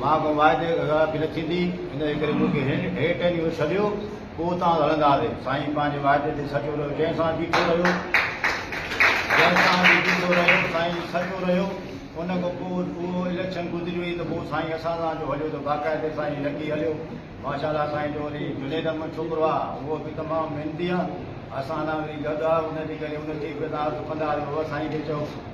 مان ڪو معاهدي خلاف به نه ٿيندي، ان جي ڪري مون کي هن هيٺ ۽ هو سڏيو، پوء اتان کان هلنداسين. سائين پنهنجي معاهدي تي سچو رهيو، جنهن سان بيٺو رهيو، جنهن سان به بيٺو رهيو، سائين سچو رهيو. ان کان پوء اهو اليڪشن گذري وئي ته پوء سائين اسان سان جو هليو ته باقاعدي سان ئي لڳي هليو. ماشاء الله سائين جو وري جنيد احمد ڇوڪرو آ، اهو به تمام محنتي آ، اسان سان وري گڏ آ، ان جي ڪري ان کي به تان سڪندا آهيو. هو سائين کي چئو.